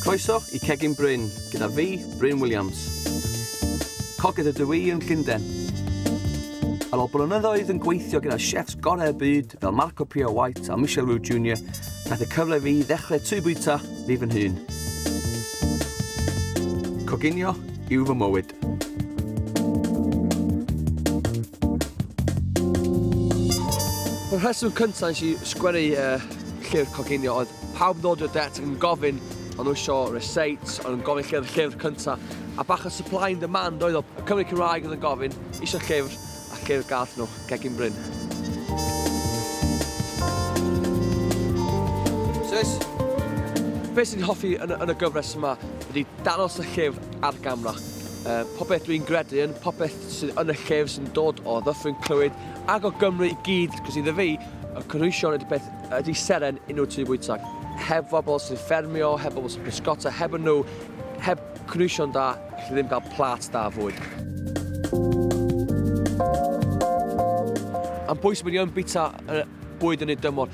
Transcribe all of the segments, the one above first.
Croeso i Cegin Bryn gyda fi, Bryn Williams. Cogydd ydw i yn Llundain. Ar ôl blynyddoedd yn gweithio gyda chefs gorau y byd fel Marco Pierre White a Michel Roux Jr, nath y cyfle fi ddechrau tŷ bwyta fi fy nhyn. Coginio yw fy mywyd. Y rheswm cyntaf nes i sgwennu uh, llyfr coginio oedd pawb yn dod i'r det yn gofyn o'n nhw eisiau receipts, o'n nhw'n gofyn llyfr, llyfr cyntaf, a bach o supply and demand oedd o. Cymru Cymraeg oedd yn gofyn, eisiau llyfr, Ac i'r gardd nhw, gegin Bryn. Sis! Be sy'n hoffi yn, yn y gyfres yma ydy danos y llef ar gamra. Uh, popeth dwi'n gredu yn, popeth sy'n yn y llef sy'n dod o ddyffryn clywyd ac o Gymru i gyd, cos iddo fi, y cynhwysion ydy beth ydy seren unrhyw tu bwyta. Heb bobl sy'n ffermio, heb bobl sy'n pysgota, heb nhw, heb Cnwysion da, allai ddim cael plât da fwy. Am pwy sy'n mynd i yn bita y bwyd yn ei dymor.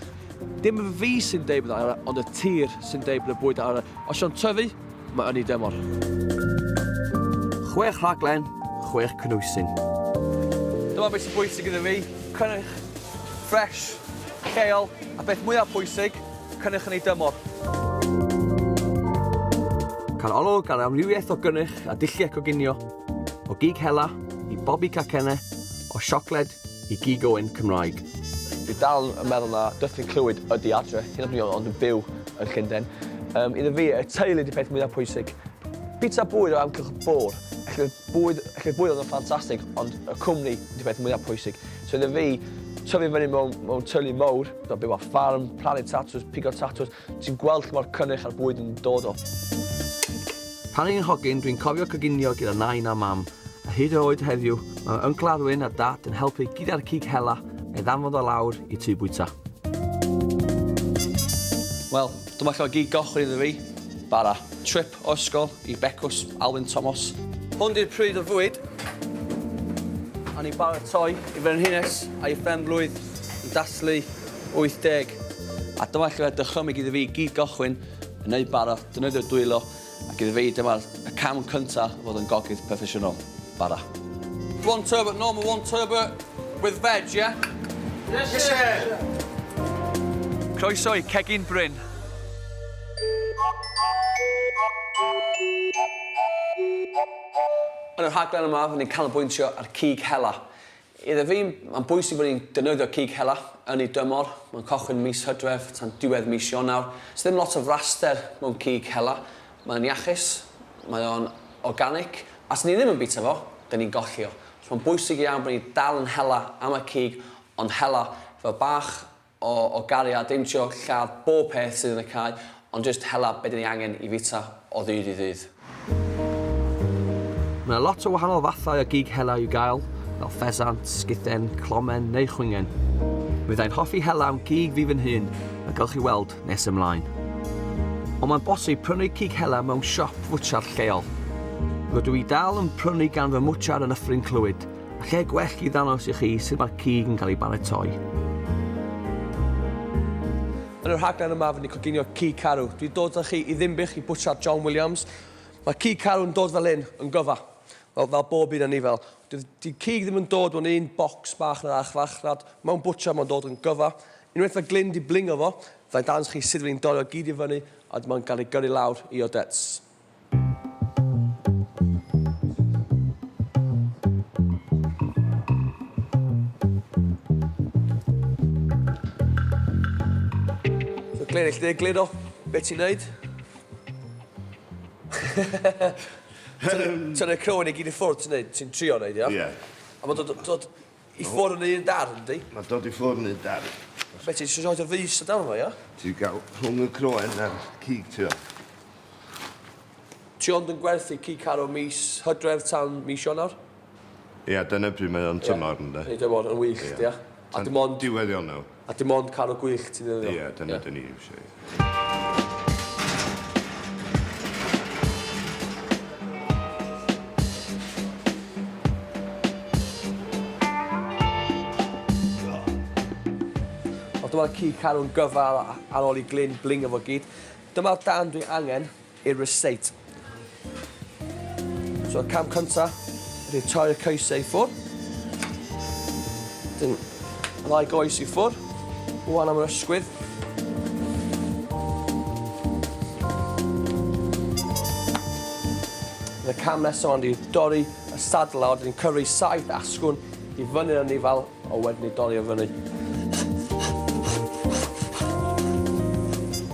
Dim fi sy'n deud bod yna, ond y tir sy'n deud bod y bwyd yna. Os yw'n tyfu, mae yn ei dymor. Chwech rhaglen, chwech cnwysyn. Dyma beth sy'n bwysig iddo fi, cynnyrch ffresh, lleol, a beth mwyaf pwysig, Cynnyrch yn ei dymor. Cael olwg ar amrywiaeth o gynnyrch a dulliau coginio, o gig hela i bobi cacenne, o siocled i gig oen Cymraeg. Dwi dal yn meddwl na Dyffryn Clwyd ydi adre, hyd yn oed ond yn byw yn Llundain. Um, iddo fi, y teulu ydi peth mwyaf pwysig. Pizza bwyd o amgylch y bwr. Felly'r bwyd, felly'r bwyd oedd yn ffantastig, ond y cwmni ydi peth mwyaf pwysig. So iddo fi, tyfu fyny mewn, mewn tylu mowr, do, byw ar ffarm, plannu tatws, pigo tatws, ti'n gweld lle mae'r cynnyrch a'r bwyd yn dod o. Pan o'n i'n hogyn, dwi'n cofio coginio gyda nain a mam, a hyd yn oed heddiw, mae Yncl Arwyn a Dad yn helpu gyda'r cig hela a'i ddanfod o lawr i tŷ bwyta. Wel, dyma lle mae gig goch wedi iddo fi bara. Trip Siop o ysgol i Becws Alun Tomos. Hwn di'r pryd o'r fwyd. A ni'n baratoi i frenhines a'i phen-blwydd yn dathlu 80. A dyma lle mae dychymyg iddo fi i gyd gychwyn, yn neud bara, defnyddio dwylo, ac iddo fi dyma'r y cam cynta o fod yn gogydd proffesiynol. Bara. One turbot, normal one turbot with veg, yeah? Yes, sir! Croeso i Cegin Bryn. Yn y rhaglen yma, rydyn ni'n canolbwyntio ar cig hela. Iddo fi, mae'n bwysig bod ni'n defnyddio cig hela yn ei dymor, mae'n cychwyn mis Hydref tan diwedd mis Ionawr. Does ddim lot o fraster mewn cig hela, mae o'n iachus, mae o'n organic, a os 'dyn ni ddim yn bwyta fo, 'dyn ni'n golli o. Felly mae'n bwysig iawn bod ni'n dal yn hela am y cig, ond hela fel bach O, o Garia, dim joc, lladd bob peth sydd yn y cae, ond jyst hela be' 'dan ni angen i fita o ddydd i ddydd. Mae 'na lot o wahanol fathau o gig hela i'w gael, fel ffesant, sguthen, clomen neu chwingen. Mi fydda i'n hoffi hela'n gig fi fy nhun, fel gewch chi weld nes ymlaen. Ond mae'n bosib prynu cig hela mewn siop fwtsiar lleol. Rydw i dal yn prynu gan fy mwtsiar yn Nyffryn Clwyd, A lle gwell i ddangos i chi sut mae'r cig yn cael ei baratoi. Yn y rhaglen yma, fy ni coginio cig carw. Dwi dod â chi i Ddimbych i bwtsiar John Williams. Mae cig carw yn dod fel hyn, yn gyfa. Fel, fel bob un yn ni fel. Di cig ddim yn dod mewn un bocs bach na'r arch fach, rad. Mae'n bwtsiar, mae'n dod yn gyfa. Unwaith mae Glyn di blingo fo, fe'n dangos chi sut fy ni'n dorri o gyd i fyny, a mae'n cael ei gyrru lawr i Odets. Glenn, lle glir o beth ti'n neud? Tynnu'r croen i gyd i ffwrdd ti'n neud, ti'n trio neud, ia? Ie. A mae dod, dod, I ffwrdd yn un dar, yndi? Mae dod i ffwrdd yn un dar. Be ti'n siarad roed y fus y dawn fo, ia? Ti'n cael rhwng y croen a'r cig, ti o? Ti ond yn gwerthu cig caro mis hydref tan mis Ionawr? Ia, dyna pryd mae o'n tymor, ynddo? Ia, tymor, yn wych, ia. A dim ond... Diwedd Ionawr. A dim ond canu gwych ti'n ddefnyddio? Ie, dyna yeah. dyn ni eisiau. Dyma'r ci carw'n gyfal ar ôl i Glyn blingo fo gyd. Dyma'r darn dwi angen i'r ryseit. So y cam cynta ydy torri y coesau i ffwr. Dyn, ddau goes i ffwr. Wan am yr ysgwydd. Y cam nesaf ond i dorri y sadlau, ond ni'n cyrru saith asgwn i fyny'r anifail O wedyn ni dorri o fyny.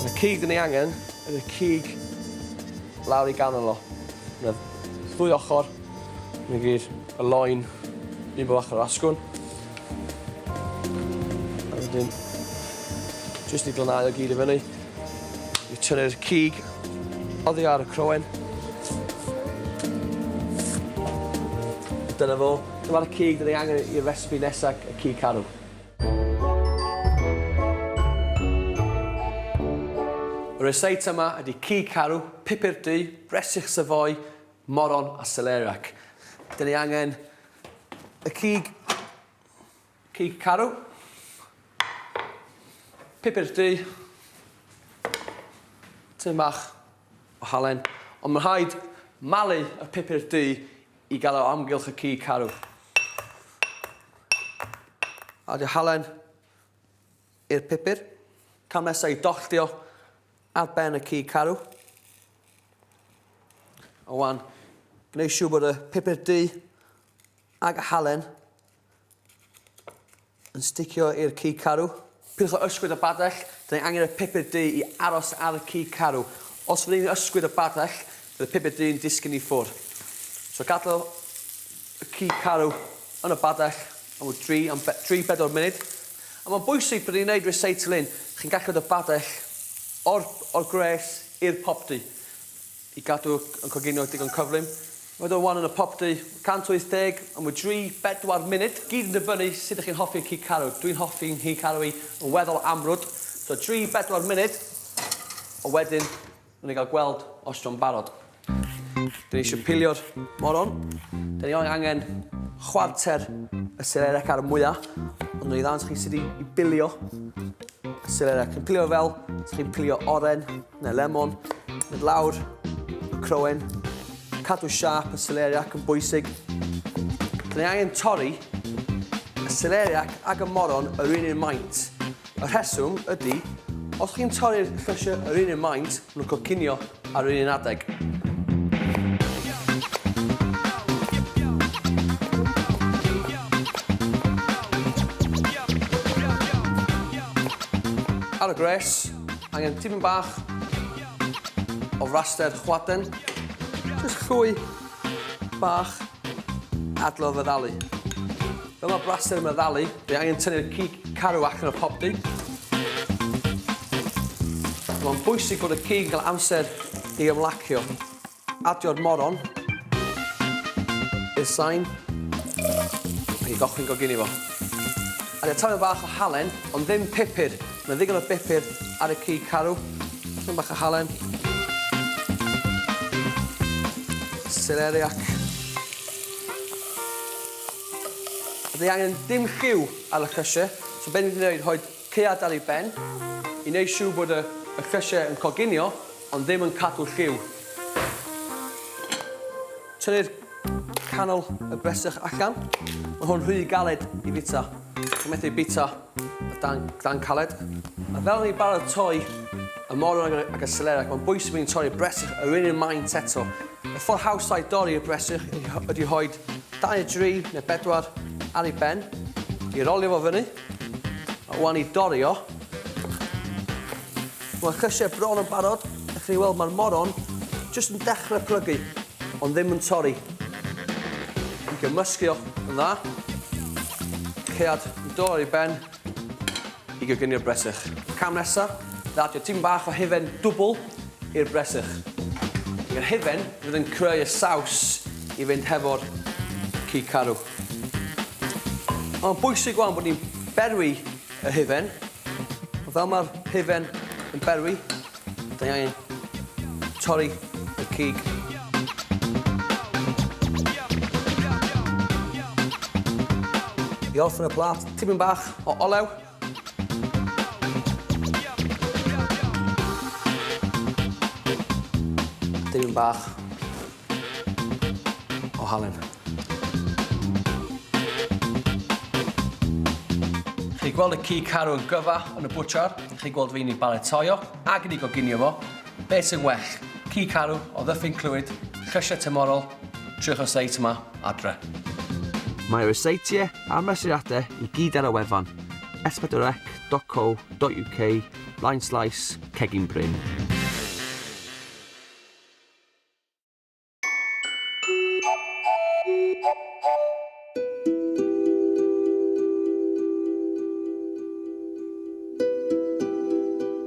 Y cig 'da ni angen yn y cig lawr i ganol o. Na ddwy ochr. Na gyd. Y loen. Un bo bach o'r asgwn. A wedyn jyst i glanhau o gyd i fyny. I tynnu'r cig oddi ar y croen. Dyna fo. Dyma'r cig rydyn ni angen i'r recipe nesaf, y cig carw. Y resit yma ydy cig carw, pupur du, bresych Savoy, moron a celeriac. Rydyn ni angen y cig. Cig carw. Pupur du. Tym bach o halen. Ond mae'n rhaid malu y pupur du i gael o amgylch y cig carw. Adio halen i'r pupur. Cam nesaf i dolltio ar ben y cig carw. A wan, gwneud siw bod y pupur du ag y halen Yn sticio i'r cig carw. Pidwch â ysgwyd y badell, da ni angen y pupur du i aros ar y cig carw. Os fydden ni'n ysgwyd y badell, bydd y pupur du'n disgyn i ffwr. So gadel y cig carw yn y badell am ryw dri am be- dri bedwar munud. A mae'n bwysig pryd ni'n neud recycling, chi'n gallu rhoi y badell o'r o'r gwres i'r popty. I gadw yn coginio digon cyflym, mae dod o wanwyn y popty, 180 yn mwy dry, bedwar munud, gyd yn dibynnu sut ych chi'n hoffi y cig carw, dwi'n hoffi yng nghig carw i yn weddol amrwd, so dry, bedwar munud, ond wedyn rwy'n ei gael gweld os jo'n barod. Dyn ni eisiau pilio'r moron, dyn ni angen chwarter y selerec ar y mwya, ond rwy'n i ddangos chi sut i bilio y selerec. Chi'n pilio fel chi'n pilio oren, Neu lemon, mynd lawr, croen, cadw siap y celeriac yn bwysig. Dyn ni angen torri y celeriac ag y moron yr un un maint. Y rheswm ydy, os chi'n torri'r llysiau yr un un maint, nhw'n cocinio ar yr un un adeg. Ar y gwres, Angen tipyn bach o raster chwaden. Jyst llwy bach adlo fy ddalu. Fel mae braster yma ddalu, fi angen tynnu'r cig carw allan o popdy. Mae'n bwysig bod y cig yn cael amser i ymlacio. Adio'r moron. I'r sain. Mae hi gochwyn gogini fo. Adio taflen bach o halen, ond ddim pupur. Mae ddigon o bupur ar y cig carw. Taflen bach o halen. Seleri ac... Dwi angen dim lliw ar y crusher, so be' ni 'di neud, rhoi Chi adael i ben, i wneud siŵr bod y y llysiau yn coginio ond ddim yn cadw lliw. Tynnu'r canol y bresych allan. Mae hwn rhy galed i fita. Chi'n methu ei bita o dan, dan caled. A fel ni'n baratoi y morwrag ac y seleriac, mae'n bwysig bod ni'n torri'r bresych yr un un maint eto. Y ffordd hawsa i dorri y bresych ydy rhoi dau neu dri neu bedwar ar ei ben, i rolio fo fyny, A wan i dorri o. Mae'r llysiau bron yn barod. Ewch chi weld mae'r moron jyst yn dechrau plygu, ond ddim yn torri. Yn gymysgu o yn dda. Cead yn dod ar ei ben i gygyni'r bresych. Cam nesaf, ddaddio tipyn bach o hufen dwbl i'r bresych. I'r hufen fydd yn creu y saws i fynd hefo'r cig carw. Mae'n bwysig wan bod ni'n berwi y hufen. Fel mae'r hufen yn berwi, da ni angen torri y cig. I orffen y plat, tipyn bach o olew. Tipyn bach O halen. Chi gweld y ci carw yn gyfa yn y bwtchar, chi gweld fi'n ei baletoio ac yn ei goginio fo, beth sy'n well, ci carw o ddyffryn clwyd, llysiau tymorol, triwch y seit yma adre. Mae ryseitiau a'r mesuriadau i gyd ar y wefan, espadwrec.co.uk, blaenslaes, cegin brin.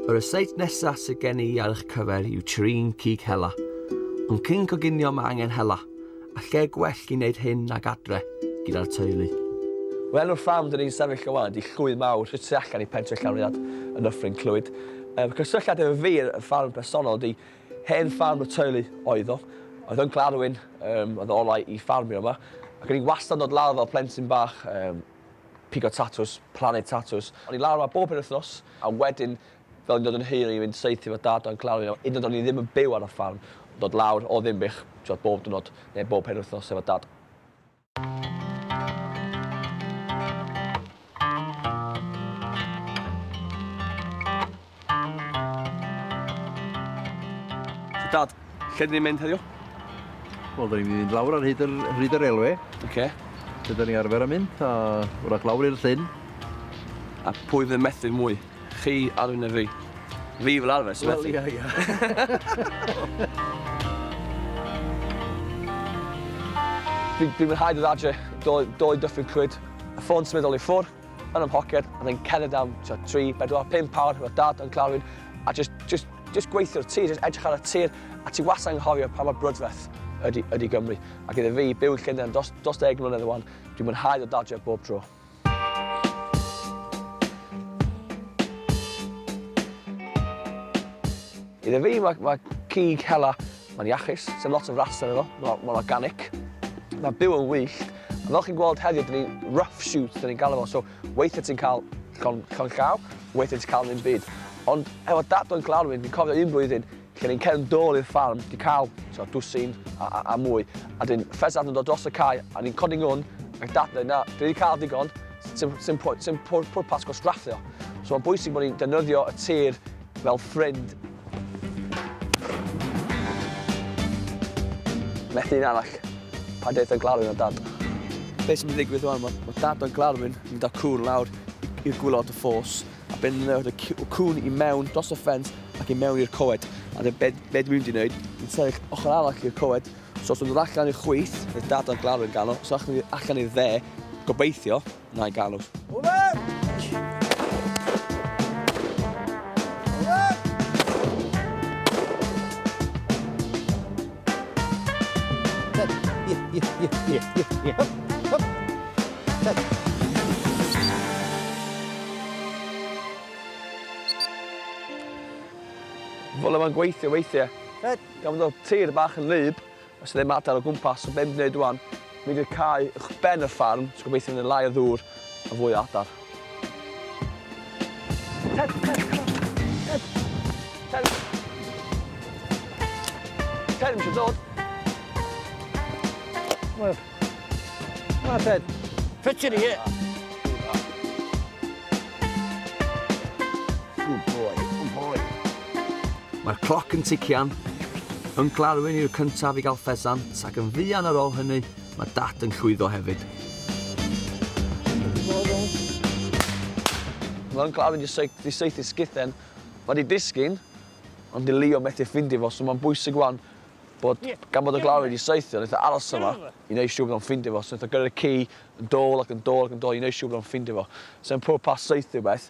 Yr estate nesa sydd gen i ar eich cyfer yw Trin Cig Hela. Ond cyn coginio mae angen hela, a lle gwell i wneud hyn nag adre, gyda'r teulu. Wel nawr fam, dyn ni'n sefyll o wan, di llwy mawr, sydd tu allan i pentre Llanrhiad yn Nyffryn Clwyd. Yym, cysylltiad efo fi, y ffarm personol, di Hen ffarm y teulu oedd o. Oedd o'n gladwyn, yym, oedd o olau i ffarmio yma. Ac o'n i wastad yn dod lawr fel plentyn bach, yym, pigo tatws, plannu tatws. O'n i lawr yma bob penwythnos, a wedyn, fel o'n i'n dod yn hŷn, o'n i'n mynd saethu efo dad a'n gladwyn, hyd yn oed o'n i ddim yn byw ar y ffarm, dod lawr o Ddinbych, t'mod, bob diwrnod, neu bob penwythnos efo dad. Dad, lle dyn ni'n mynd heddiw? Wel, dyn ni'n mynd lawr ar hyd yr, hyd yr elwe. Oce. Okay. Lle dyn ni arfer am mynd, a wrach lawr i'r llyn. A pwy fydd methu mwy? Chi arwyneb fi. Fi fel arfer sy'n methu. Wel, ia, ia. Dwi'n mwynhau dod adre, dou dyffryn cwyd, y ffôn symudol i ffwr, yn ym mhoced, a then cerdded am 3, 4, 5 awr efo dad yn Clarwyn, a just, just, just gweithio'r tir, just edrych ar y tir, a ti wastad yn anghofio pa mor brydferth ydy, ydy Gymru. Ac iddo fi, byw yn Llundain dros, dros deg mlynedd o wan, dwi'n mwynhau dod adre bob tro. Iddo fi, mae ma cig hela, mae'n iachus, sy'n lot o fras yn efo, mae'n ma organic, mae'n byw yn wyllt, a fel chi'n gweld heddiw, dyn ni rough shoot, dyn ni'n galw fo, so weithiau ti'n cael llon, llon llaw, weithiau ti'n cael ddim byd. Ond efo dad o'n glanwyn, fi'n cofio un blwyddyn, Gen i'n cefn dôl i'r ffarm, 'di cael, t'o', dwsin a, a, a mwy. A 'dyn ffesant yn dod dros y cae, a ni'n codi ngwn, ac Dad yn dweud, 'na, dwi 'di cael digon, sim, sim, pwy- sim pwr- pwrpas gwastraffu o. So mae'n bwysig bod ni'n defnyddio y tir fel ffrind. Methu un arall. Pa daith o Glarwyn o Dad? Be' sy'n mynd i ddigwydd ŵan, ma' ma' Dad o Glarwyn yn mynd â cŵn lawr i- i'r gwilod y ffos. A benderfynodd y cŵn i mewn dros y ffens ac i mewn i'r coed. A dyna be, be dwi'n di wneud, dwi'n sefyll ochr arall i'r coed, so os dwi'n dod allan i'r chwith, bydd dad a'r glawr yn gano, os allan ni allan i'r dde, gobeithio, na i gano. Fel yma'n gweithio weithiau. Ed. Gan fod o tir bach yn lyb, os ydym adael o gwmpas, so beth ni'n gwneud rwan, mynd i'r cae uwch ben y ffarm, so gobeithio fydd yna lai o ddŵr a fwy o adar. Ted, eisiau dod. Wel, na Ted. Ffit yn ie. Good boy, good boy. Mae'r cloc yn tician. Yn glarwyn i'r cyntaf i gael ffesant ac yn fuan ar ôl hynny, Mae Dad yn llwyddo hefyd. Mae o'n claddu dy seic, dy saethu sgithen. Mae 'di disgyn, ond 'di Leo methu ffindio fo, so mae'n bwysig 'wan bod, gan bod y glaw wedi saethu, neith o aros yma i neud siŵr bod o'n ffindio fo, so neith o gyrru'r ci yn dôl ac yn dôl ac yn dôl i neud siŵr bod o'n ffindio fo. So yn pob pas saethu rwbeth,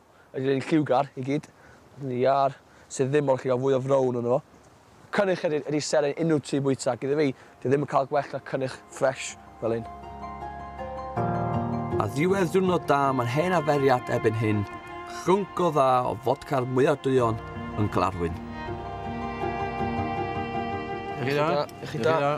Yr un lliwgar i gyd. Yn yr iâr sydd ddim mor lliwgar, fwy o frown ynddo fo. Cynnyrch ydy ydy seren unrhyw tŷ bwyta ac iddo fi, dwi ddim yn cael gwell na cynnyrch ffresh fel hyn. Ar ddiwedd diwrnod da mae'n hen arferiad erbyn hyn, chlwnc go dda o fodca'r mwyaf duon yn Glarwyn. Y'ch chi da? Y'ch chi da?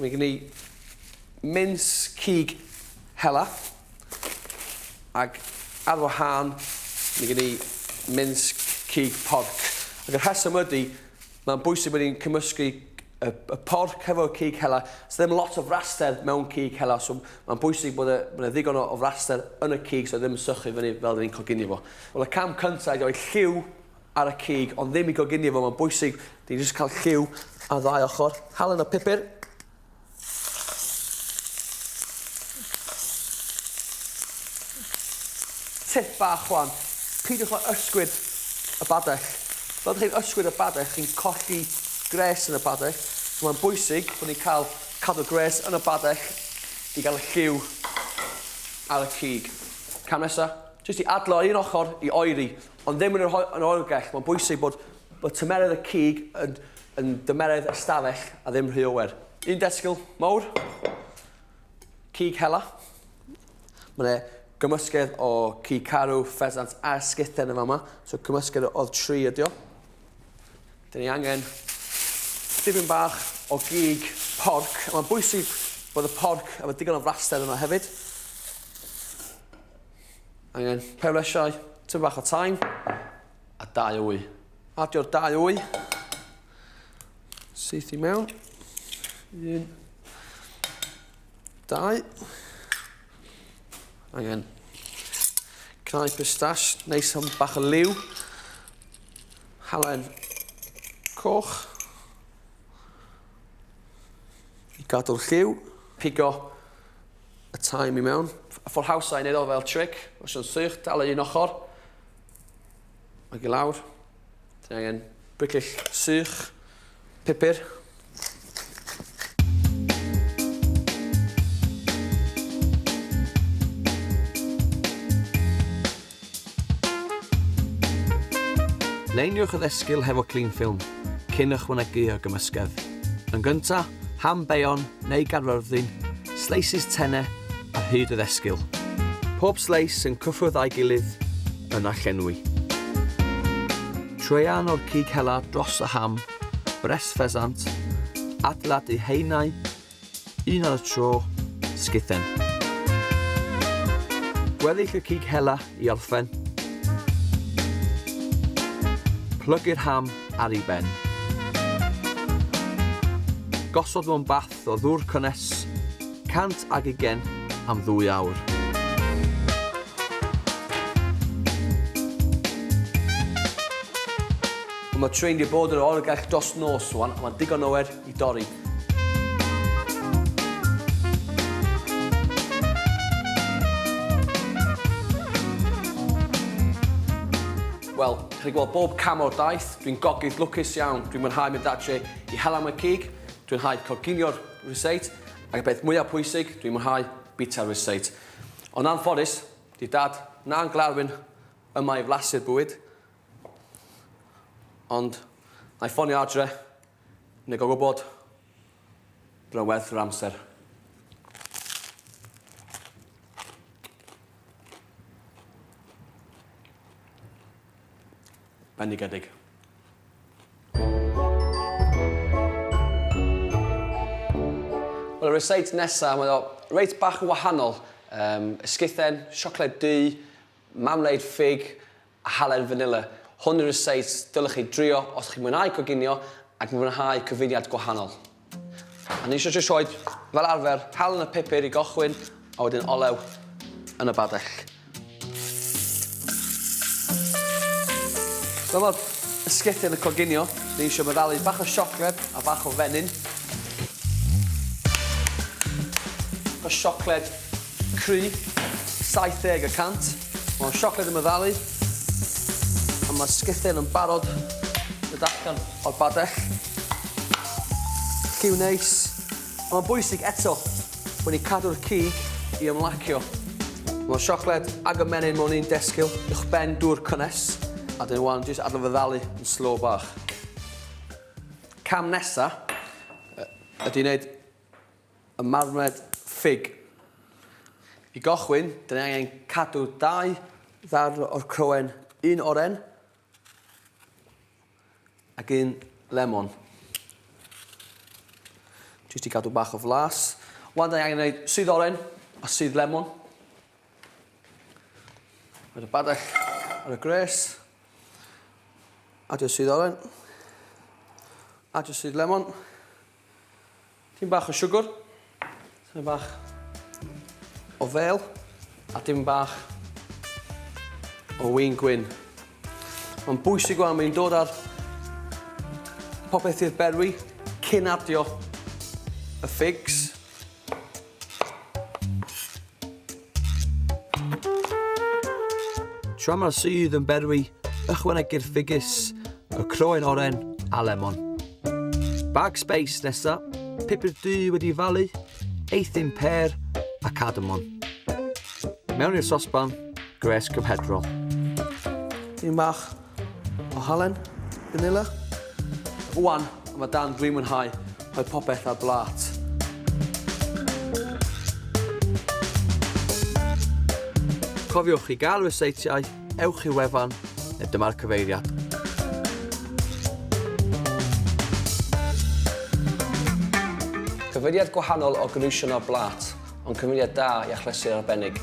Mae gen i mins cig hela. Ac ar wahân, mae gen i mins cig porc. Ac y rheswm ydy, mae'n bwysig bod ni'n cymysgu y, y porc hefo cig hela. Os ddim lot o fraster mewn cig hela, so mae'n bwysig bod e, bod e ddigon o, o fraster yn y cig, so ddim sychu fyny fel ni'n coginio fo. Wel, y cam cyntaf ydy rhoi lliw ar y cig ond ddim i goginio fo, mae'n bwysig i ni jyst cael lliw ar ddau ochr. Halen o pupur. Tip bach chwan, peidiwch â ysgwyd y badell. Fel ydych chi'n ysgwyd y badell, chi'n colli gres yn y badell, so mae'n bwysig bod ni'n cael cadw gres yn y badell i gael y lliw ar y cig. Cam nesaf, jyst i adlo un ochr i oeri. Ond ddim yn yr oergell, mae'n bwysig bod bod tymeredd y cig yn yn dymeredd ystafell a ddim rhy oer. Un desgyl mawr, cig hela. Mae yna gymysgedd o cig carw, ffesant a sguthen yn fama, so cymysgedd o'r tri ydi o. Dyn ni angen dipyn bach o gig porc, a mae'n bwysig bod y porc efo digon o fraster yno hefyd. Angen perlysiau, tŷ bach o taim a dau wy. Adio'r dau wy. Syth i mewn. Un. Dau. Angen cnau pistash, neis am bach o liw. Halen coch. I gadw'r lliw. Pigo y tai mi mewn. Fforhawsa i neud o fel trick. Os yw'n sych, dal yr un ochr. Ag i lawr. Ti'n angen briclill sych, pupur. Luniwch y ddesgyl hefo cling ffilm, cyn ychwanegu y gymysgedd. Yn gyntaf, ham beion neu garfyrddin, sleisis tene ar hyd y ddesgyl. Pob sleis yn cyffwrdd â'i gilydd, yna llenwi. Traean o'r cig hela dros y ham, bres ffesant, adeiladu haenau Un ar y tro, sgithen. Gweddill y cig hela i orffen. Plygu'r ham ar ei ben. Gosod mewn bath o ddŵr cynnes, 100 ag ugen am ddwy awr. Mae train wedi bod yn yr oergell dros nos rwan, a mae'n digon oer i dorri. Wel, chi gweld bob cam o'r daith, dwi'n gogydd lwcus iawn, dwi'n mwynhau mynd adre i hel am y cig, dwi'n hau coginio'r ryseit, ac y peth mwyaf pwysig, dwi'n mwynhau bita'r ryseit. Ond anffodus, di dad na'n glarwyn yma i flasu'r bwyd, ond na i ffonio adre Nid o gwbl. Bydd o'n werth yr amser. Bendigedig. Wel y recite nesa, mae o reit bach yn wahanol. Yym, esgithen, siocled du, mamleid ffug, a halen fanila. Hwn yw'r receipts dylech chi drio os chi'n mwynhau coginio ac yn fwynhau cyfuniad gwahanol. A ni eisiau sioed, fel arfer, halen a phupur i gychwyn a wedyn olew yn y badell. Fel mae'r bisgedi yn y coginio, ni eisiau meddalu bach o siocled a bach o fenyn. Bach o siocled cru, 70 y cant. Mae'r siocled yn meddalu. A mae sgythen yn barod y datgan o'r badell. Lliw neis. A mae'n bwysig eto bod ni'n cadw'r cig i ymlacio. Mae'r siocled ag y menyn mewn un desgyl uwch ben dŵr cynnes, a dyn wan jyst adle feddalu yn slow bach. Cam nesa ydy wneud Y marwnad ffug. I gychwyn, da ni angen cadw dau ddarn o'r croen, un oren ac un lemon. Jyst i gadw bach o flas. Wan da ni angen gwneud sydd oren a sydd lemon. Rhaid y badell ar y gres. Adio sydd oren. Adio sydd lemon. Tipyn bach o siwgr, tipyn bach o fêl a tipyn bach o win gwyn. Mae'n bwysig wan, mae'n dod ar popeth i'r berwi cyn adio y ffigs. Tra mae'r sudd yn berwi, ychwanegir ffigys, y croen oren a lemon. Bag space nesa, pupur du wedi falu, eithin per a cardamon. Mewn i'r sosban, gres cymhedrol. Yn bach O Halen, vanilla. Rwan, mae dan dwi'n mwynhau rhoi popeth ar blat. Cofiwch i gael ryseitiau, ewch i'r wefan, neu dyma'r cyfeiriad. Cyfeiriad gwahanol o gynhwysion ar blat. Ond cyfuniad da i achlysur arbennig.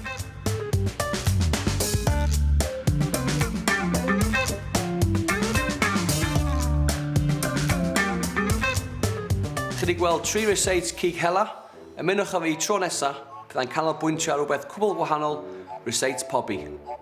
Chi wedi gweld tri receipts cig hela? Ymunwch â fi tro nesa, byddai'n canolbwyntio ar rhywbeth cwbl wahanol, receipts pobi.